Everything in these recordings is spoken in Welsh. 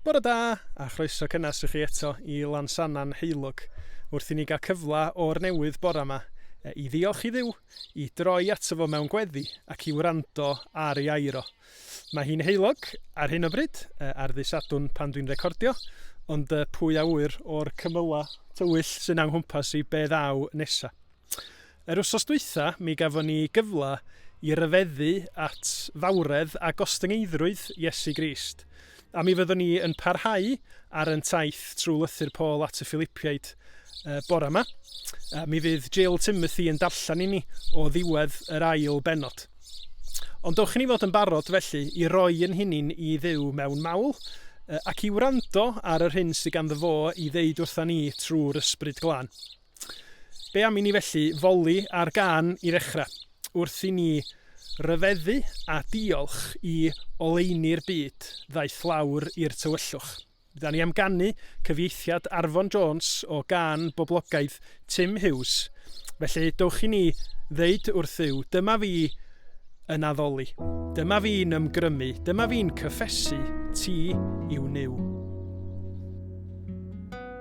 Bore da, a chroeso cynnes i chi eto i Lansannan Heulwg, wrth i ni gael cyfle o'r newydd bore yma e, i ddiolch i ddiw, i droi ato fo mewn gweddi ac i wrando ar ei air o. Mae hi'n heulog ar hyn o bryd, e, ar ddi Sadwn pan dwi'n recordio, ond e, pwy a ŵyr o'r cymylau tywyll sy'n a'n nghwmpas i be ddaw nesa. Yr wsos dwytha mi gafon ni gyfla i ryfeddu at fawredd a gostyngeiddrwydd Iesu Grist, a mi fyddwn ni yn parhau ar yn taith trwy lythyr Paul at y Philipiaid yy bora 'ma. Yy mi fydd Jill Timothy yn darllen i ni o ddiwedd yr ail bennod. Ond dowch i ni fod yn barod felly i roi yn hunin i Dduw mewn mawl yy ac i wrando ar yr hyn sydd ganddo fo i ddeud wrtha ni trwy'r Ysbryd Glân. Be am i ni felly foli ar gân i ddechrau, wrth i ni ryfeddu a diolch i oleuni'r byd ddaeth lawr i'r tywyllwch. Da ni am ganu cyfieithiad Arfon Jones o gân boblogaidd Tim Hughes, felly dowch i ni ddeud wrth Dduw, dyma fi yn addoli, dyma fi'n ymgrymu, dyma fi'n cyffesu ti yw Nuw.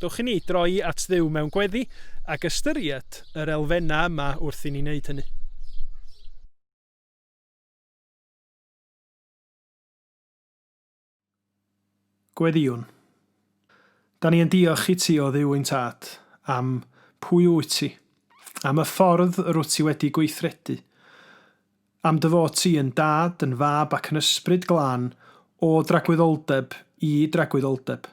Dwch i ni droi at Dduw mewn gweddi ac ystyried yr elfennau yma wrth i ni wneud hynny. Gweddïwn. Da ni yn diolch i ti o Dduw ein Tad am pwy wyt ti, am y ffordd rwyt ti wedi gweithredu, Am dy fod ti yn dad, yn fab ac yn ysbryd glân, o dragwyddoldeb i dragwyddoldeb.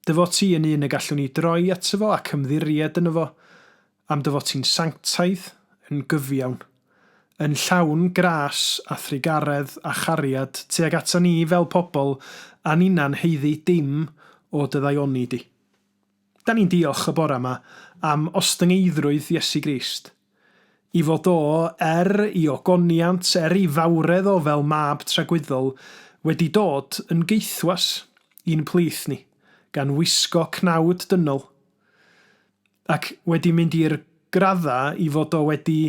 Dy fod ti yn un y gallwn ni droi ato fo ac ymddiried yno fo. Am dy fod ti'n sanctaidd, yn gyfiawn. Yn llawn gras a thrugaredd a chariad tuag ata ni fel pobl a ninnau'n haeddu dim o dy ddaioni di. Da ni'n diolch y bore yma am ostyngeiddrwydd Iesu Grist, i fod O, er I ogoniant, er I fawredd O fel Mab tragwyddol, wedi dod yn gaethwas i'n plith ni, gan wisgo cnawd dynol, ac wedi mynd i'r graddau i fod O wedi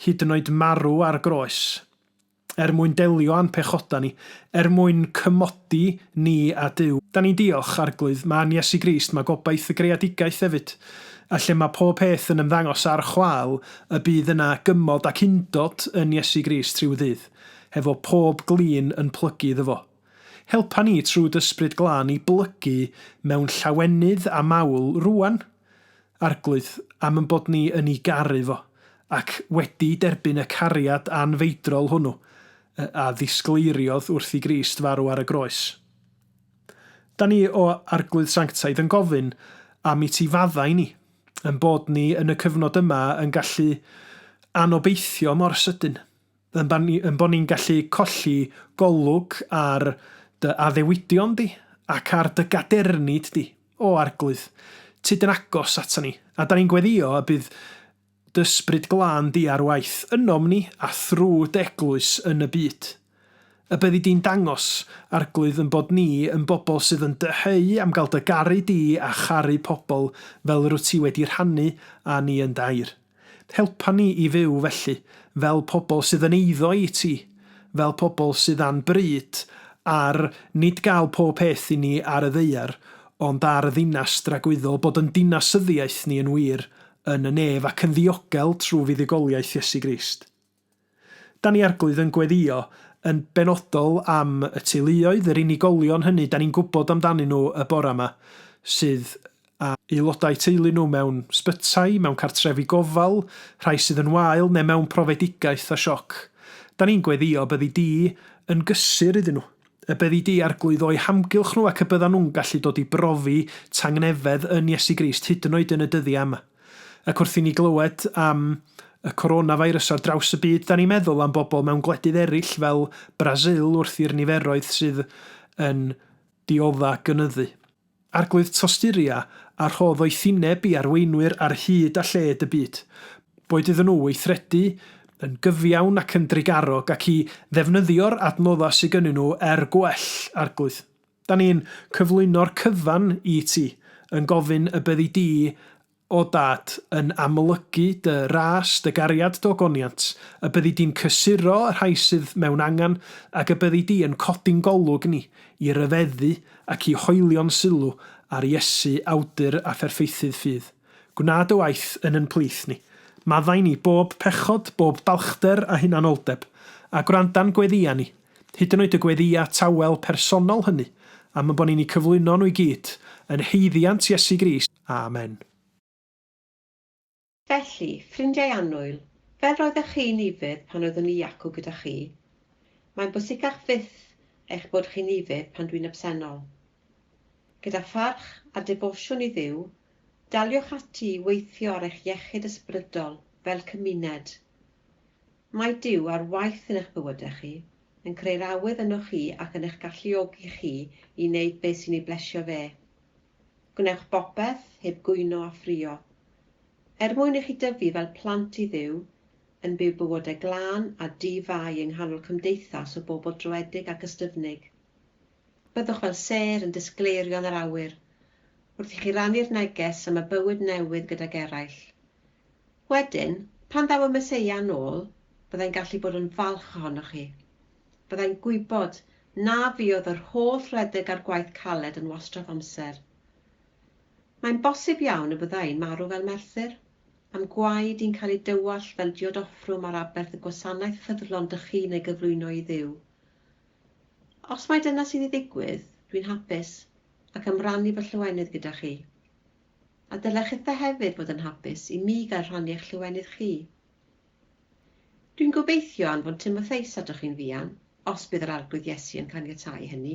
hyd yn oed marw ar groes, er mwyn delio â'n pechodau ni, er mwyn cymodi ni â Duw. Da ni'n diolch, Arglwydd, mae yn Iesu Grist mae gobaith y greadigaeth hefyd, a lle mae pob peth yn ymddangos ar chwâl, y bydd yna gymod ac undod yn Iesu Grist rhyw ddydd, hefo pob glin yn plygu iddo fo. Helpa ni trwy d'Ysbryd Glân i blygu mewn llawenydd a mawl rŵan, Arglwydd, am ein bod ni yn ei garu fo, ac wedi derbyn y cariad anfeidrol hwnnw a ddisgleiriodd wrth i Grist farw ar y groes. Da ni, o Arglwydd Sanctaidd, yn gofyn am i ti faddau ni, ein bod ni yn y cyfnod yma yn gallu anobeithio mor sydyn. Ein bod ni'n gallu colli golwg ar dy addewidion di ac ar dy gadernid di, O Arglwydd. Ti dyn agos atan ni, a da ni'n gweddïo y bydd d'Ysbryd Glân di ar waith ynom ni a thrw d'Eglwys yn y byd. Y byddi di'n dangos, Arglwydd, yn bod ni yn bobl sydd yn dyheu am gael dy garu di a charu pobl fel rwyt ti wedi rhannu â ni yn dy air. Helpa ni i fyw, felly, fel pobl sydd yn eiddo i ti, fel pobl sydd â'n bryd ar nid gael pob peth i ni ar y ddaear, ond ar y ddinas dragwyddol, bod yn dinasyddiaeth ni yn wir yn y nef ac yn ddiogel trwy fuddugoliaeth Iesu Grist. Dan ni Arglwydd yn gweddïo yn benodol am y teuluoedd, yr unigolion hynny dan ni'n gwybod amdanyn nhw y bore yma, sydd â aelodau teulu nhw mewn sbytai, mewn cartrefi gofal, rhai sydd yn wael neu mewn profedigaeth a sioc. Dan ni'n gweddïo y byddi di yn gysur iddyn nhw, y byddi di, Arglwydd, o'u hamgylch nhw ac y byddan nhw'n gallu dod i brofi tangnefedd yn Iesu Grist, hyd yn oed yn y dyddiau yma. Ac wrth i ni glywed am y coronafeirws ar draws y byd, 'dan ni'n meddwl am bobl mewn gwledydd eraill fel Brasil wrth i'r niferoedd sydd yn diodda' gynyddu. Arglwydd Tosturia a rhodd o'i thineb i arweinwyr ar hyd a lled y byd, boed iddyn nhw weithredu yn gyfiawn ac yn drugarog, ac i ddefnyddio'r adnoddau sy gynnyn nhw er gwell, Arglwydd. Da ni'n cyflwyno'r cyfan i ti yn gofyn y byddi di, o Dad, yn amlygu dy ras, dy gariad, d'ogoniant, y byddi di'n cysuro y rhai sydd mewn angen, ac y byddi di yn codi'n golwg ni i ryfeddu ac i hoelio'n sylw ar Iesu, Awdur a Pherffeithydd ffydd. Gwna dy waith yn yn plith ni. Maddau ni bob pechod, bob balchder a hunanoldeb, a gwranda'n gweddïau ni. hyd yn oed y gweddïau tawel personol hynny, am y bo ni'n eu cyflwyno nhw i gyd, yn haeddiant Iesu Grist. Amen. Felly, ffrindiau annwyl, fel roeddech chi'n yfed pan oeddwn i acw gyda chi, mae'n bwysicach fyth eich bod chi'n yfed pan dwi'n absennol. Gyda pharch a defosiwn i Dduw, daliwch ati i weithio ar eich iechyd ysbrydol fel cymuned. Mae Duw ar waith yn eich bywydau chi, yn creu'r awydd ynoch chi ac yn eich galluogi chi i wneud beth sy'n ei blesio fe. Gwnewch bopeth, heb gwyno a ffrio. Er mwyn i chi dyfu fel plant i Dduw, yn byw bywydau glân a di-fai yng nghanol cymdeithas o bobl dröedig ac ystyfnig. Byddwch fel sêr yn disgleirion yr awyr, wrth i chi rannu'r neges am y bywyd newydd gydag eraill. Wedyn, pan ddaw y Meseia yn ôl, byddai'n gallu bod yn falch ohonoch chi. Byddai'n gwybod na fuodd yr holl redeg a'r gwaith caled yn wastraff amser. Mae'n bosib iawn y bydda i'n marw fel Merthyr, a'm gwaed i'n cael ei dywallt fel diodoffrwm ar aberth y gwasanaeth ffyddlon dych chi'n ei gyflwyno i Dduw. Os mai dyna sy'n ei ddigwydd, dwi'n hapus, ac am rannu fy llawenydd gyda chi. A dylech chithau hefyd fod yn hapus i mi gael rhannu eich llwyfennydd chi. Dwi'n gobeithio anfon Timotheus atoch chi'n fuan, os bydd yr Arglwydd Iesu yn caniatáu hynny,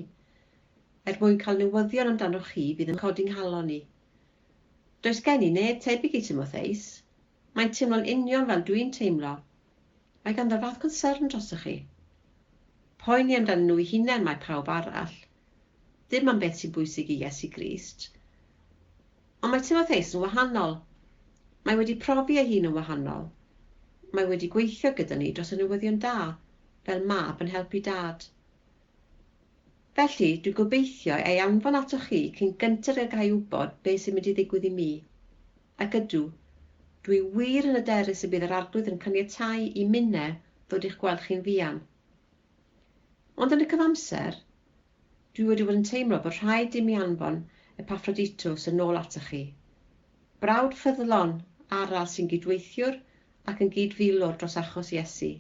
er mwyn cael newyddion amdanoch chi fydd yn codi 'nghalon i. Does gen i neb tebyg i Timotheus, Mae'n teimlo'n union fel dwi'n teimlo. Mae ganddo'r fath concern drostoch chi. Poeni amdanyn nhw'u hunain mae pawb arall. Dim am beth sy'n bwysig i Iesu Grist. Ond mae Timotheus yn wahanol. Mae wedi profi ei hun yn wahanol. Mae wedi gweithio gyda ni dros y newyddion da, fel mab yn helpu dad. Felly, dwi'n gobeithio ei anfon atoch chi cyn gynted ag a i wybod beth sy'n mynd i ddigwydd i mi. Ac ydw, dwi wir yn hyderus y bydd yr Arglwydd yn caniatáu i minnau ddod i'ch gweld chi'n fuan. Ond yn y cyfamser, dwi wedi bod yn teimlo bod rhaid i mi anfon Epaffroditos yn ôl atoch chi. Brawd ffyddlon arall sy'n gydweithiwr ac yn gyd-filwr dros achos Iesu.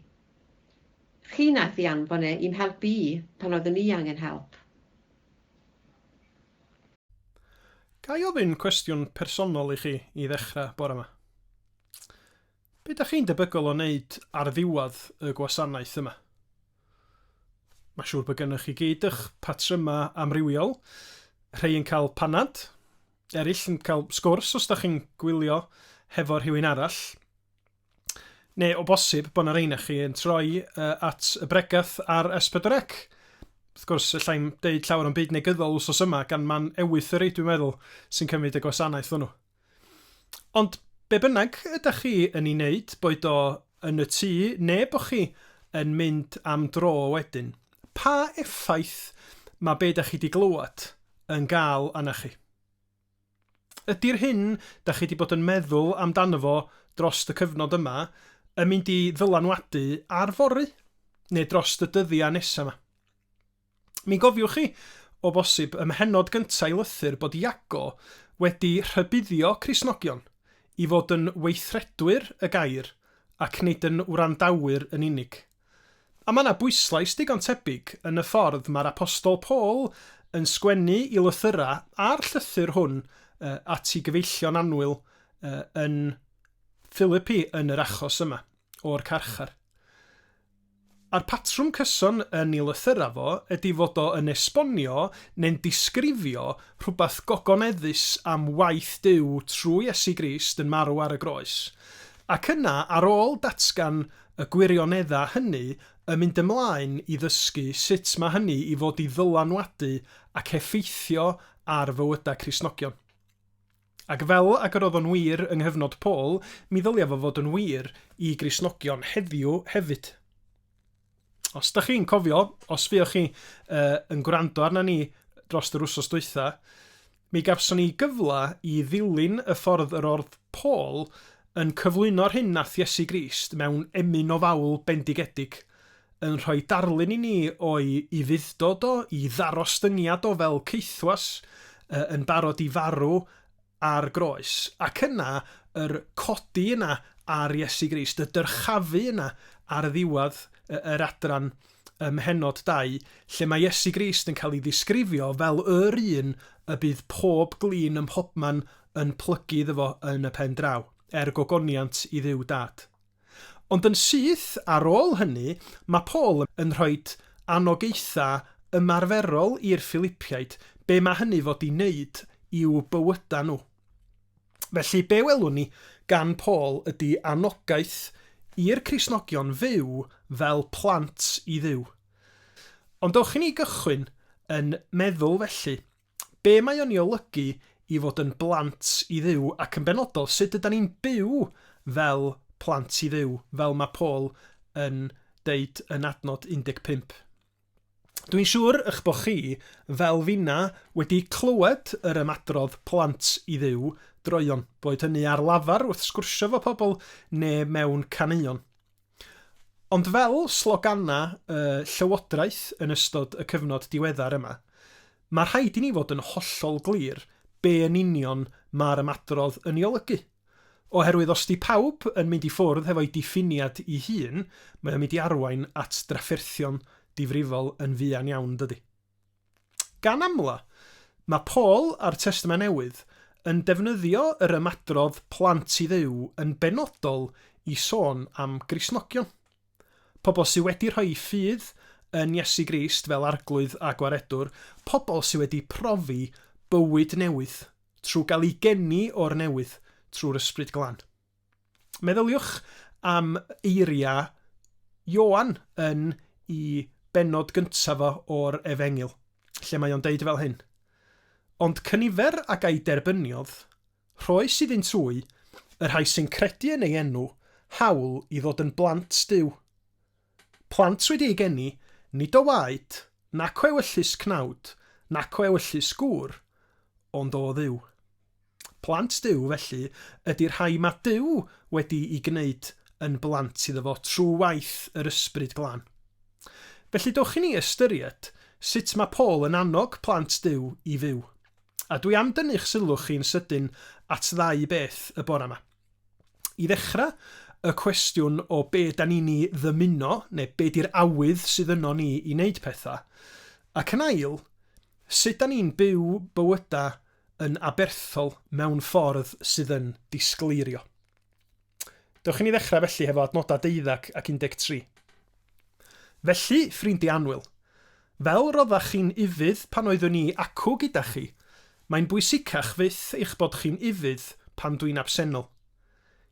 Chi wnaeth ei anfon e i'm helpu i pan oeddwn i angen help. Ga i ofyn cwestiwn personol i chi i ddechrau bore ma? Be da chi'n debygol o wneud ar ddiwedd y gwasanaeth yma? Mae siŵr bod gennych chi gyd eich patrymau amrywiol, rhai yn cael panad, eraill yn cael sgwrs os da chi'n gwylio hefo rhywun arall. Neu o bosib bod yna rhain chi yn troi uh, at y bregath ar S4C. Wrth gwrs, allai'n deud llawer o'n byd negyddol wsos yma gan man ewythyri, dwi'n meddwl, sy'n cymryd y gwasanaeth hwnnw. Ond be bynnag ydych chi yn ei wneud, boed o yn y tŷ neu bod chi yn mynd am dro wedyn, pa effaith mae beth ydych chi wedi glywed yn gael arna chi? Ydy'r hyn da chi 'di bod yn meddwl amdano fo drost y cyfnod yma yn mynd i ddylanwadu ar fory, neu drost y dyddia nesa 'ma? Mi gofiwch chi, o bosib, ym mhennod gynta' i lythyr bod Iago wedi rhybuddio Cristnogion i fod yn weithredwyr y gair ac nid yn wrandawyr yn unig. A mae yna bwyslais digon tebyg yn y ffordd mae'r Apostol Paul yn sgwennu i lythyrau a'r llythyr hwn at ei gyfeillion annwyl yn Philippi yn yr achos yma o'r carchar. A'r patrwm cyson yn ei lythyrau fo ydy fod o yn esbonio neu'n disgrifio rhywbeth gogoneddus am waith Duw trwy Iesu Grist yn marw ar y groes, ac yna ar ôl datgan y gwirioneddau hynny yn mynd ymlaen i ddysgu sut mae hynny i fod i ddylanwadu ac effeithio ar fywydau Cristnogion. Ac fel ag yr oedd o'n wir yng nghyfnod Paul, mi ddylai fo fod yn wir i Gristnogion heddiw hefyd. Os da chi'n cofio, os fuoch chi uh, yn gwrando arna ni dros yr wsos dwytha, Mi gafson ni gyfla i ddilyn y ffordd yr ordd Paul yn cyflwyno'r hyn nath Iesu Grist mewn emyn ofawl bendigedig yn rhoi darlun i ni o'i i fuddod o, i ddarostyngiad o fel caethwas yy yn barod i farw ar groes, ac yna yr codi yna ar Iesu Grist, y dyrchafu yna ar ddiwadd yy yr adran. ym mhennod 2, lle mae Iesu Grist yn cael ei ddisgrifio fel yr un y bydd pob glin ym mhobman yn plygu iddo fo yn y pen draw, er gogoniant i Dduw Dad. Ond yn syth ar ôl hynny, mae Paul yn rhoi anogaethau ymarferol i'r Ffilipiaid, be mae hynny fod i wneud i'w bywydau nhw. Felly, be welwn ni gan Paul ydy anogaeth i'r Cristnogion fyw fel plant i Dduw. Ond dewch i ni gychwyn yn meddwl felly, be mae o'n ei olygu i fod yn blant i Dduw ac yn benodol sut ydan ni'n byw fel plant i Dduw fel mae Paul yn deud yn adnod 15? Dwi'n siŵr y'ch bod chi, fel finna, wedi clywed yr ymadrodd 'plant i Dduw droeon', boed hynny ar lafar wrth sgwrsio 'fo pobl ne' mewn caneuon. Ond fel slogana y Llywodraeth yn ystod y cyfnod diweddar yma, ma' rhaid i ni fod yn hollol glir be' yn union ma'r ymadrodd yn 'i olygu. Oherwydd os 'di pawb yn mynd i ffwrdd hefo'i diffiniad 'i hun, mae o'n mynd i arwain at drafferthion difrifol yn fuan iawn, yn dydi? Gan amla, mae Paul a'r Testament Newydd yn defnyddio yr ymadrodd 'plant i Dduw' yn benodol i sôn am Gristnogion. Pobl sy' wedi rhoi eu ffydd yn Iesu Grist fel Arglwydd a Gwaredwr, pobl sy' wedi profi bywyd newydd Trwy gael ei geni o'r newydd trwy'r Ysbryd Glân. Meddyliwch am eiriau Ioan yn i bennod gyntaf o o'r Efengyl, lle mae o'n deud fel hyn, Ond cynifer a ga'i derbyniodd, rhoes iddynt wy, y rhai sy'n credu yn ei enw, hawl i ddod yn blant Duw. Plant wedi ei geni, nid o waed, nac o ewyllys cnawd, nac o ewyllys gŵr, ond o Dduw. Plant Duw, felly, ydy'r rhai mae Duw wedi'i gwneud yn blant iddo fo trwy waith yr Ysbryd Glân. Felly, dewch i ni ystyried sut mae Paul yn annog plant Duw i fyw. A dwi am dynnu'ch sylw chi'n sydyn at ddau beth y bore 'ma. I ddechrau, y cwestiwn o be dan ni'n ei ddymuno, neu be di'r awydd sydd yno ni i wneud pethau. Ac yn ail, sut dan ni'n byw bywydau yn aberthol mewn ffordd sydd yn disgleirio. Dewch i ni ddechrau felly hefo adnodau deuddeg ac 13. Felly, ffrindiau annwyl, fel roddach chi'n ufudd pan oeddwn i acw gyda chi, mae'n bwysicach fyth eich bod chi'n ufudd pan dwi'n absennol.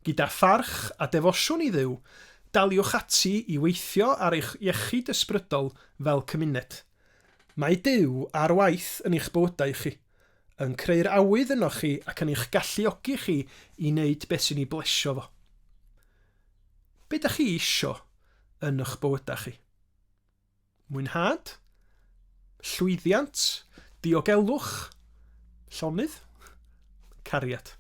Gyda pharch a defosiwn i Dduw, daliwch ati i weithio ar eich iechyd ysbrydol fel cymuned. Mae Duw ar waith yn eich bywydau chi, yn creu'r awydd ynoch chi ac yn eich galluogi chi i wneud beth sy'n ei blesio fo. Be da chi isio yn ych bywydau chi? Mwynhad? Llwyddiant? Diogelwch? Llonydd? Cariad?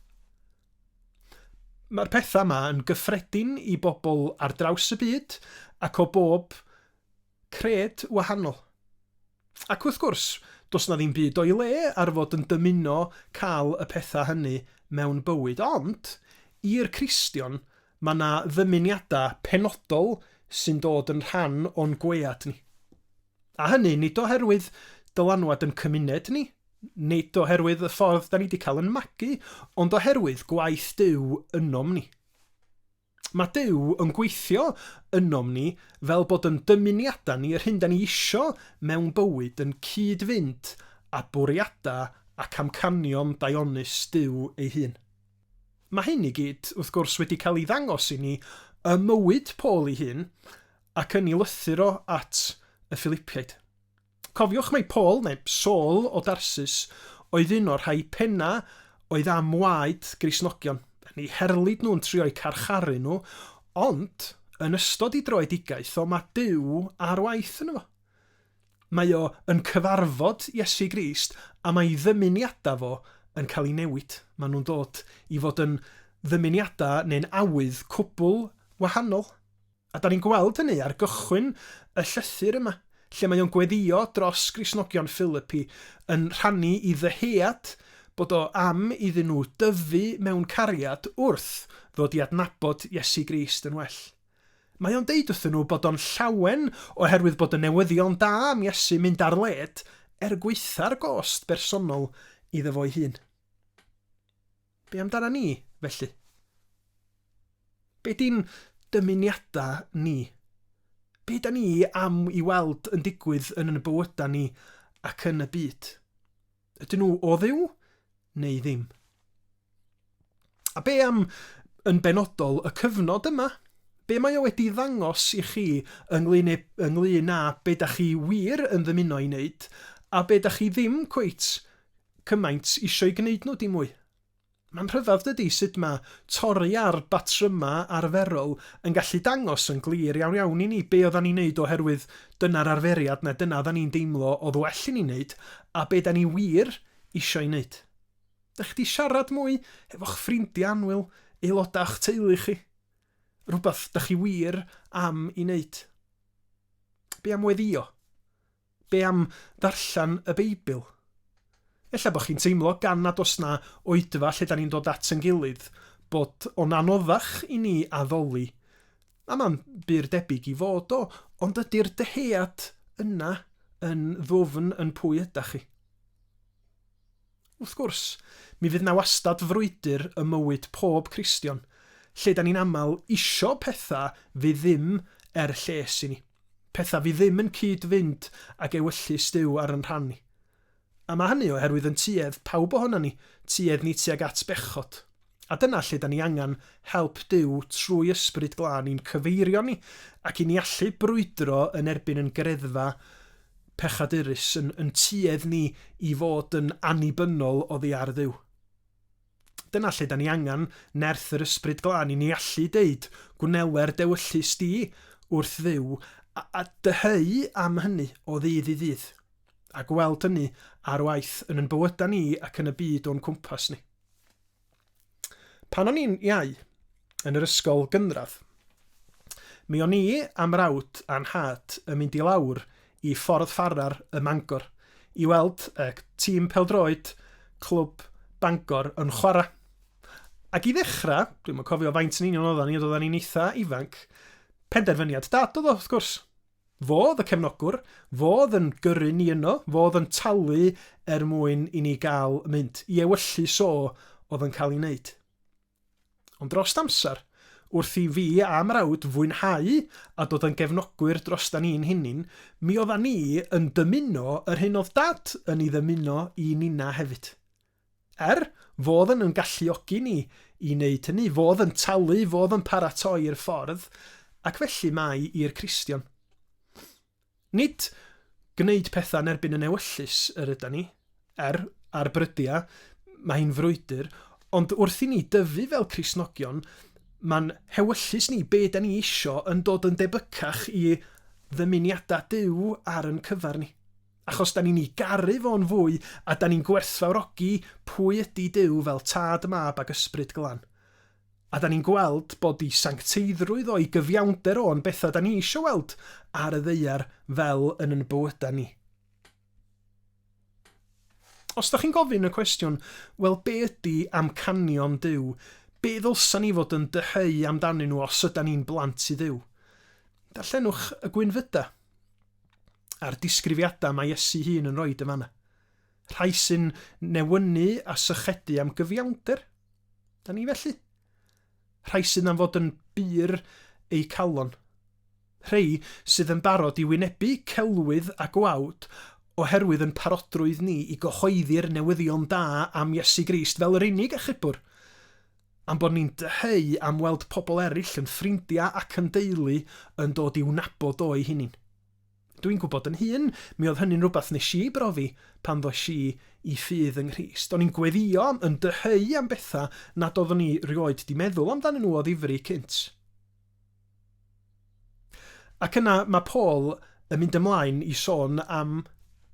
Mae'r pethau yma yn gyffredin i bobl ar draws y byd ac o bob Cred wahanol. Ac wrth gwrs, does 'na ddim byd o'i le ar fod yn dymuno cael y pethau hynny mewn bywyd, ond, i'r Cristion, mae 'na ddymuniadau penodol sy'n dod yn rhan o'n gwead ni. A hynny, nid oherwydd dylanwad yn cymuned ni, nid oherwydd y ffordd 'da ni 'di cael yn magu, ond oherwydd gwaith Duw ynom ni. Mae Duw yn gweithio ynom ni fel bod yn dymuniadau ni, yr hyn da ni isio mewn bywyd, yn cyd-fynd â bwriadau ac amcanion daionus Duw ei hun. Mae hyn i gyd, wrth gwrs, wedi cael ei ddangos i ni ym mywyd Paul ei hun ac yn ei lythyr o at y Ffilipiaid. Cofiwch mai Paul, neu Saul, o Darsus oedd un o'r rhai pennau oedd am waed Gristnogion, yn eu herlid nhw, yn trio'u carcharu nhw, ond yn ystod ei droedigaeth o mae Duw ar waith yno fo. Mae o yn cyfarfod Iesu Grist a mae ei ddymuniadau fo yn cael ei newid. Mae nhw'n dod i fod yn ddymuniadau neu'n awydd cwbl wahanol. A 'da ni'n gweld hynny ar gychwyn y llythyr yma, lle mae o'n gweddïo dros Gristnogion Philippi, yn rhannu i ddyhead bod o am iddyn nhw dyfu mewn cariad wrth ddod i adnabod Iesu Grist yn well. Mae o'n deud wrthyn nhw bod o'n llawen oherwydd bod y newyddion da am Iesu'n mynd ar led, er gwaetha'r gost bersonol iddo fo'i hun. Be amdana ni, felly? Be di'n dymuniadau ni? Be da ni am i weld yn digwydd yn yn bywydau ni ac yn y byd? Ydyn nhw o ddiw neu ddim? A be am yn benodol y cyfnod yma? Be mae o wedi ddangos i chi ynglyn, e, ynglyn â be da chi wir yn ddymuno i wneud a be da chi ddim cweit cymaint isio'i gwneud nhw dim mwy. Mae'n rhyfedd dydi sut mae torri ar batrymau arferol yn gallu dangos yn glir iawn iawn i ni be oeddan ni'n neud oherwydd dyna'r arferiad neu dyna oeddan ni'n deimlo oedd well i ni neud a be da ni wir isio'i neud. Dych chi di siarad mwy hefo'ch ffrindiau annwyl, aelodau o'ch teulu chi? Rhywbeth dych chi wir am i neud? Be am weddio? Be am ddarllen y Beibl? Ella bod chi'n teimlo, gan nad oes 'na oedfa lle 'da ni'n dod at ein gilydd, bod o'n anoddach i ni addoli. A mae'n bur debyg i fod o, ond ydy'r dyhead yna yn ddwfn yn pwy ydach chi? Wrth gwrs, mi fydd 'na wastad frwydr ym mywyd pob Cristion, lle 'dan ni'n aml isio petha fydd ddim er lles i ni, petha fydd ddim yn cyd-fynd ag ewyllys Duw ar 'yn rhan ni. A ma' hynny oherwydd yn tuedd pawb ohonan ni, tuedd ni tuag at bechod. A dyna lle da ni angen help Duw trwy Ysbryd Glân i'n cyfeirio ni ac i ni allu brwydro yn erbyn yn greddfa pechadurus, yn yn tuedd ni i fod yn annibynnol oddi ar Dduw. Dyna lle da ni angen nerth yr Ysbryd Glân i ni allu deud, Gwneler dewyllys di wrth Dduw, a, a dyheu am hynny o ddydd i ddydd, a gweld hynny ar waith yn yn bywyda ni ac yn y byd o'n cwmpas ni. Pan o'n i'n iau, yn yr ysgol gynradd, mi o'n i a mrawd a nhad yn mynd i lawr i Ffordd Farrar ym Mangor i weld y tîm pêl-droed Clwb Bangor yn chwarae. Ac i ddechrau, dwi'm yn cofio faint yn union oeddan ni, ond oeddan ni'n eitha ifanc, penderfyniad Dad oedd o, wrth gwrs. Fo oedd y cefnogwr, fo oedd yn gyrru ni yno, fo oedd yn talu er mwyn i ni gael mynd, i ewyllys so oedd yn cael ei wneud. Ond drost amser, wrth i fi a mrawd fwynhau a dod yn gefnogwyr drostan ni'n hunin, mi oeddan ni yn dymuno yr hyn oedd Dad yn ei ddymuno i Nina hefyd. Er, fodd yn yn galluogi ni i wneud hynny, fodd yn talu, fodd yn paratoi'r ffordd, ac felly mae i'r Cristion. Nid gwneud pethau yn erbyn yn ewyllys yr yda ni, er, ar brydia, mae hi'n frwydr, ond wrth i ni dyfu fel Cristnogion, mae'n hewyllys ni be da ni isio yn dod yn debycach i ddymuniadau Duw ar yn cyfer ni. Achos 'da ni'n 'i garu fo'n fwy a 'da ni'n gwerthfawrogi pwy ydi Duw fel Tad, Mab ac Ysbryd Glan. A 'da ni'n gweld bod 'i sancteiddrwydd o'i gyfiawnder o'n bethau 'da ni isio weld ar y ddaear fel yn yn bywydau ni. Os 'da chi'n gofyn y cwestiwn, wel be ydi amcanion Duw, be ddylsa ni fod yn dyheu amdanyn nhw os yda ni'n blant i Dduw? Darllenwch y gwynfyda. a'r disgrifiadau mae Iesu'i hun yn rhoi yn fanna. Rhai sy'n newynu a sychedu am gyfiawnder. Da ni felly? Rhai sydd am fod yn bur eu calon. Rhai sydd yn barod i wynebu celwydd a gwawd oherwydd yn parodrwydd ni i gyhoeddi'r newyddion da am Iesu Grist fel yr unig achubwr. Am bod ni'n dyheu am weld pobl eraill yn ffrindiau ac yn deulu yn dod i'w nabod o'u hunain. Dwi'n gwybod yn hun, mi oedd hynny'n rhywbeth nes i brofi pan ddoes i i ffydd yng Nghrist. O'n i'n gweddïo, yn dyheu am bethau nad oeddwn i rioed 'di meddwl amdanyn nhw o ddifri cynt. Ac yna mae Paul yn mynd ymlaen i sôn am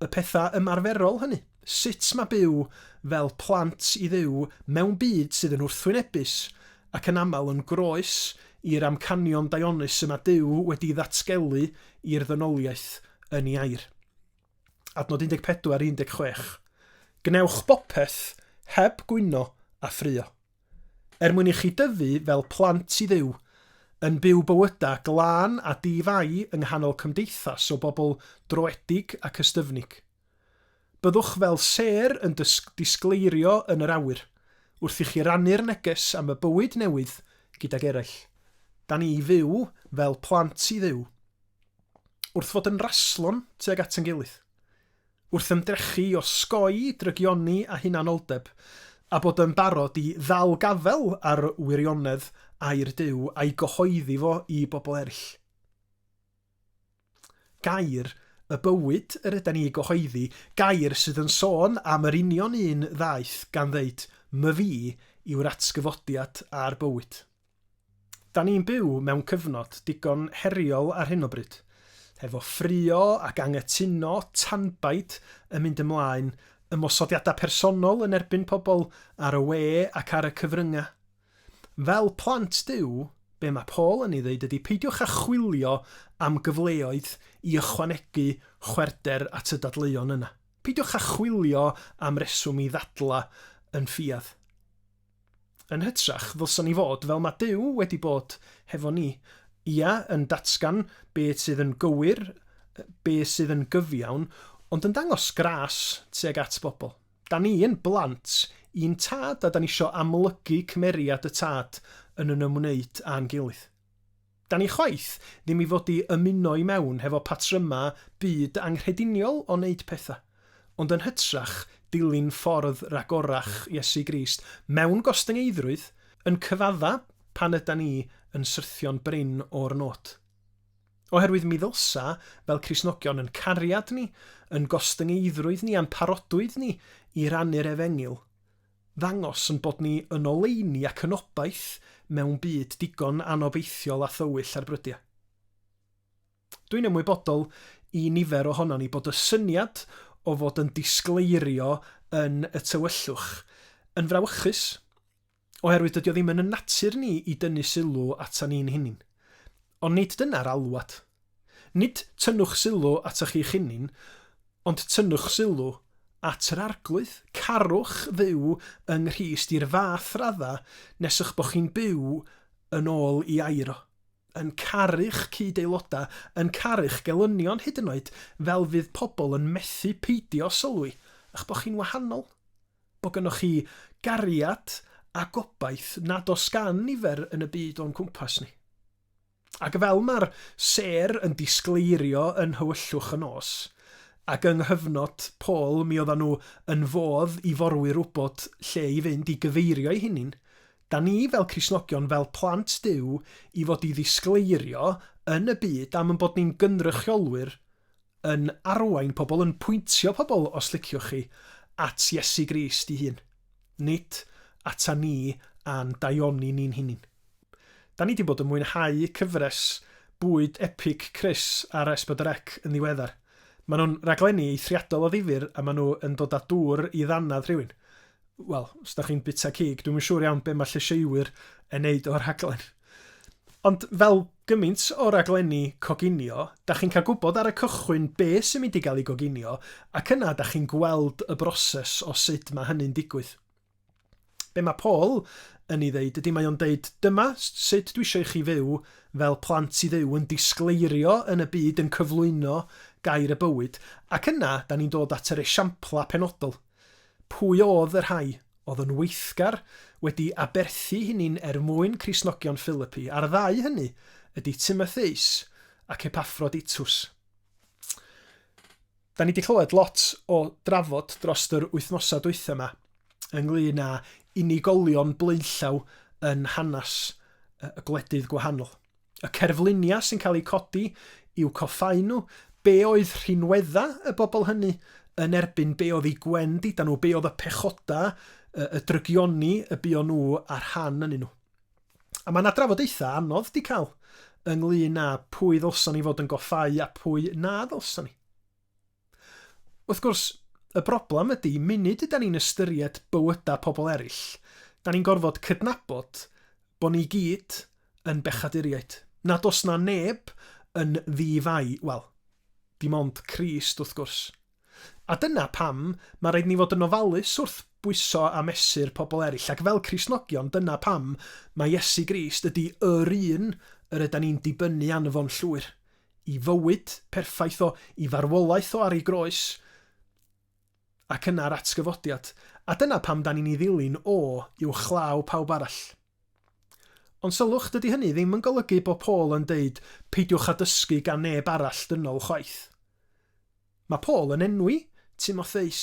y pethau ymarferol hynny, sut mae byw fel plant i Dduw mewn byd sydd yn wrthwynebus ac yn aml yn groes i'r amcanion daionus y mae Duw wedi ddatgelu i'r ddynoliaeth yn ei air. Adnod 14, 16. Gwnewch bopeth heb gwyno a ffraeo. Er mwyn i chi dyfu fel plant i Dduw, yn byw bywydau glân a di-fai yng nghanol cymdeithas o bobl droedig ac ystyfnig. Byddwch fel sêr yn disgleirio yn yr awyr, wrth i chi rannu'r neges am y bywyd newydd gydag eraill. Da ni i fyw fel plant i Dduw, wrth fod yn raslon tuag at ein gilydd. wrth ymdrechu i osgoi drygioni a hunanoldeb, a bod yn barod i ddal gafael ar wirionedd air Duw a'i gyhoeddi fo i bobl eraill. Gair y bywyd yr yda ni i gyhoeddi, gair sydd yn sôn am yr union un ddaeth gan ddeud, 'My fi yw'r atgyfodiad a'r bywyd'. Da ni'n byw mewn cyfnod digon heriol ar hyn o bryd, hefo ffrio ac anghytuno tanbaid yn mynd ymlaen, ymosodiadau personol yn erbyn pobl ar y we ac ar y cyfryngau. Fel plant Duw, be mae Paul yn ei ddeud ydy peidiwch â chwilio am gyfleoedd i ychwanegu chwerwder at y dadleuon yna. Peidiwch â chwilio am reswm i ddadlau yn ffiaidd. Yn hytrach, ddylsan ni fod, fel mae Duw wedi bod hefo ni, ia, yn datgan be sydd yn gywir, be sydd yn gyfiawn, ond yn dangos gras tuag at bobl. Da ni yn blant i'n Tad a da ni isio amlygu cymeriad y Tad yn yn ymwneud â'n gilydd. Da ni chwaith ddim i fod i ymuno i mewn hefo patryma byd anghrediniol o wneud pethau, ond yn hytrach dilyn ffordd ragorach Iesu Grist mewn gostyngeiddrwydd, yn cyfadda pan yda ni yn syrthio'n brin o'r nod. Oherwydd mi ddylsa, fel Cristnogion, yn cariad ni, yn gostyngeiddrwydd ni a'n parodwydd ni i rannu'r Efengyl, ddangos ein bod ni yn oleuni ac yn obaith mewn byd digon anobeithiol a thywyll ar brydiau. Dwi'n ymwybodol i nifer ohonon ni bod y syniad o fod yn disgleirio yn y tywyllwch yn frawychus, oherwydd dydy o ddim yn ein natur ni i dynnu sylw atan ni'n hunain. Ond nid dyna'r alwad. Nid tynnwch sylw atoch chi'ch hunin, ond tynnwch sylw at yr Arglwydd. Carwch fyw yng Nghrist i'r fath radda nes y'ch bod chi'n byw yn ôl i air o, yn caru'ch cyd-aelodau, yn caru'ch gelynion hyd yn oed, fel fydd pobl yn methu peidio sylwi y'ch bod chi'n wahanol. bod gynnoch chi gariad a gobaith nad oes gan nifer yn y byd o'n cwmpas ni. Ac fel mae'r sêr yn disgleirio yn nhywyllwch y nos, ac yng nghyfnod Paul mi oeddan nhw yn fodd i forwyr wybod lle i fynd i gyfeirio'i hynyn, da ni fel Cristnogion, fel plant Duw, i fod i ddisgleirio yn y byd am yn bod ni'n gynrychiolwyr yn arwain pobl, yn pwyntio pobl, os liciwch chi, at Iesu Grist i hun, nid ata ni a'n daioni ni'n hunin. Da ni di bod yn mwynhau cyfres bwyd epig Chris ar S4C yn ddiweddar. Maen nhw'n raglenni eithriadol o ddifyr a maen nhw yn dod â dŵr i ddannedd rhywun. wel, os da chi'n bita cig, dwi'n siŵr iawn be mae lleisieuwyr yn neud o'r rhaglen. Ond fel gymaint o raglenni coginio, da chi'n cael gwybod ar y cychwyn be sy'n mynd i gael ei goginio, ac yna da chi'n gweld y broses o sut mae hynny'n digwydd. Be mae Paul yn ei ddeud ydy mae o'n deud, dyma sut dwi eisiau i chi fyw fel plant i ddew, yn disgleirio yn y byd, yn cyflwyno gair y bywyd, ac yna da ni'n dod at yr esiamplau penodol. Pwy oedd y rhai oedd yn weithgar wedi aberthu hynny'n er mwyn Cristnogion Philippi, a'r ddau hynny ydy Timotheus ac Epaffroditus. Da ni wedi clywed lot o drafod dros yr wythnosau dwytha yma ynglyn â unigolion blaenllaw yn hanes y gwledydd gwahanol. Y cerfluniau sy'n cael eu codi yw coffáu nhw, be oedd rhinwedda y bobl hynny yn erbyn be oedd eu gwên dida nhw, be oedd y pechodau, y drygioni y buon nhw a rhan yn nhw. A mae yna drafodaethau anodd di cael ynglyn â pwy ddylson ni fod yn goffáu a pwy na ddylson ni. Wrth gwrs, y broblem ydy, munud ydan ni'n ystyried bywyda pobl eraill, da ni'n gorfod cydnabod bod ni gyd yn bechaduriaid, nad oes na neb yn ddi-fai, wel, dim ond Crist wrth gwrs. A dyna pam mae rhaid ni fod yn ofalus wrth bwyso a mesur pobl eraill, ac fel Cristnogion dyna pam mae Iesu Grist ydy yr un yr ydan ni'n dibynnu arno fo'n llwyr, i fywyd perffaith o, i farwolaeth o ar ei groes, ac yna yr atgyfodiad, a dyna pam da ni'n ei ddilyn o uwchlaw pawb arall. Ond sylwch, dydy hynny ddim yn golygu bod Paul yn deud peidiwch â dysgu gan neb arall dynol chwaith. Mae Paul yn enwi Timotheus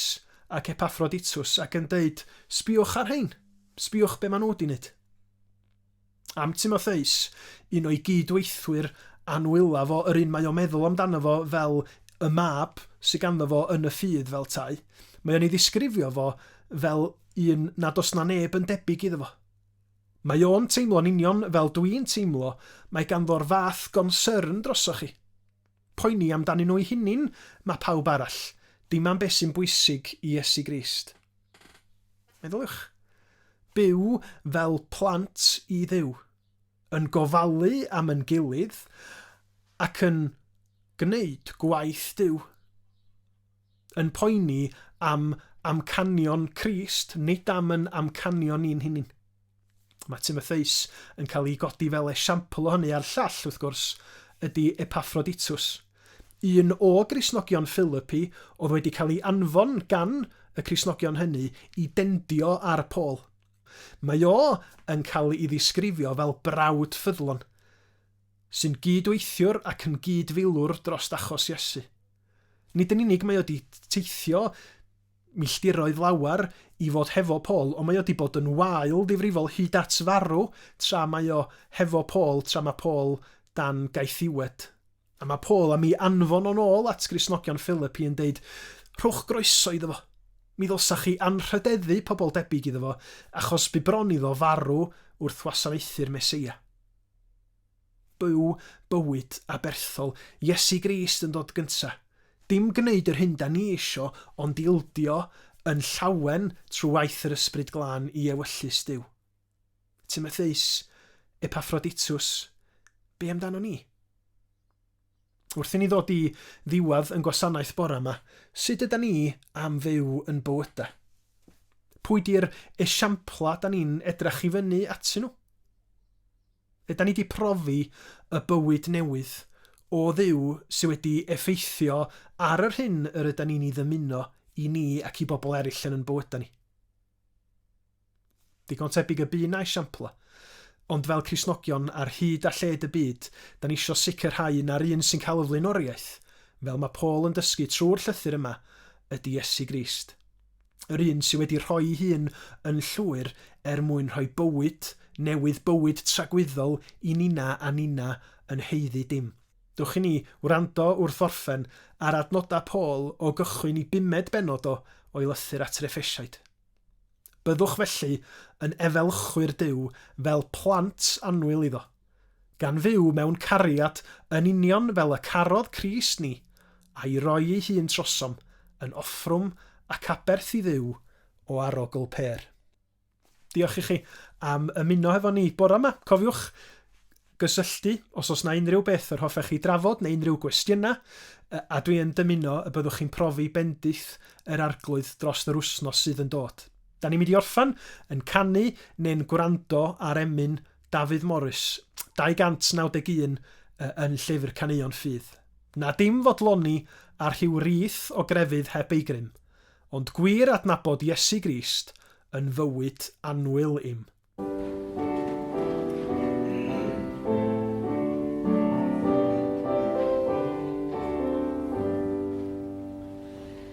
ac Epaffroditws ac yn deud, Sbïwch ar rhein, sbïwch be maen nhw wedi wneud. Am Timotheus, un o'i gyd-weithwyr anwyla fo, yr un mae o'n meddwl amdano fo fel y mab sydd ganddo fo yn y ffydd fel tai, mae o'n ei ddisgrifio fo fel un nad oes 'na neb yn debyg iddo fo. Mae o'n teimlo'n union fel dwi'n teimlo, mae ganddo'r fath gonsyrn drosoch chi. Poeni amdanyn nhw'u hunin mae pawb arall, dim am beth sy'n bwysig i Iesu Grist. Meddyliwch. Byw fel plant i Dduw, yn gofalu am yn gilydd ac yn gwneud gwaith Duw. yn poeni am amcanion Crist, nid am yn amcanion ni'n hunin. Mae Timotheus yn cael ei godi fel esiampl o hynny a'r llall, wrth gwrs, ydy Epaffroditws. Un o Grisnogion Philipi oedd wedi cael ei anfon gan y Crisnogion hynny i dendio ar Paul. Mae o yn cael ei ddisgrifio fel brawd ffyddlon, sy'n gyd-weithiwr ac yn gyd-filwr dros achos Iesu. Nid yn unig mae o 'di teithio milltiroedd lawer i fod hefo Paul, ond mae o 'di bod yn wael difrifol hyd at farw tra mae o hefo Paul, tra mae Paul dan gaethiwed. A mae Paul am i anfon o'n ôl at Gristnogion Philippi yn deud, Rhowch groeso iddo fo. Mi ddylsa chi anrhydeddu pobl debyg iddo fo, achos bu bron iddo farw wrth wasanaethu'r Meseia. Byw bywyd aberthol Iesu Grist yn dod gynta. Dim gneud yr hyn 'da ni isio ond ildio yn llawen trwy waith yr Ysbryd Glân i ewyllys Duw. Timotheus, Epaffroditus, be amdano ni? Wrth i ni ddod i ddiwedd yn gwasanaeth bore yma, sut yda ni am fyw yn bywyda? Pwy di'r esiampla 'da ni'n edrach i fyny atyn nhw? Ydan ni 'di profi y bywyd newydd o Dduw sydd wedi effeithio ar yr hyn yr ydan ni'n ei ddymuno i ni ac i bobl eraill yn yn bywydau ni? Digon tebyg y bu 'na esiamplau. Ond fel Cristnogion ar hyd a lled y byd, da ni eisiau sicrhau na'r un sy'n cael y flaenoriaeth, fel mae Paul yn dysgu trwy'r llythyr yma, ydy Iesu Grist. yr un sydd wedi rhoi'i hun yn llwyr er mwyn rhoi bywyd newydd, bywyd tragwyddol i ninna a ninna yn haeddu dim. Dewch i ni wrando wrth orffen ar adnodau Paul o gychwyn i bumed bennod o o'i lythyr at yr Effesiaid. Byddwch felly yn efelchwyr Duw fel plant annwyl iddo. gan fyw mewn cariad yn union fel y carodd Crist ni, a'i roi ei hun trosom yn offrwm ac aberth i Dduw o arogl pêr. Diolch i chi am ymuno hefo ni bore yma. Cofiwch gysylltu os oes na unrhyw beth yr hoffech chi drafod neu unrhyw gwestiynau, a dwi yn dymuno y byddwch chi'n profi bendith yr arglwydd dros yr wsnos sydd yn dod. Da ni'n mynd i orffan yn canu neu'n gwrando ar emyn Dafydd Morris, 291, yn Llyfr Caneuon Ffydd. Na dim fodloni ar rhyw rith o grefydd heb ei grym, ond gwir adnabod Iesu Grist yn fywyd annwyl i'm.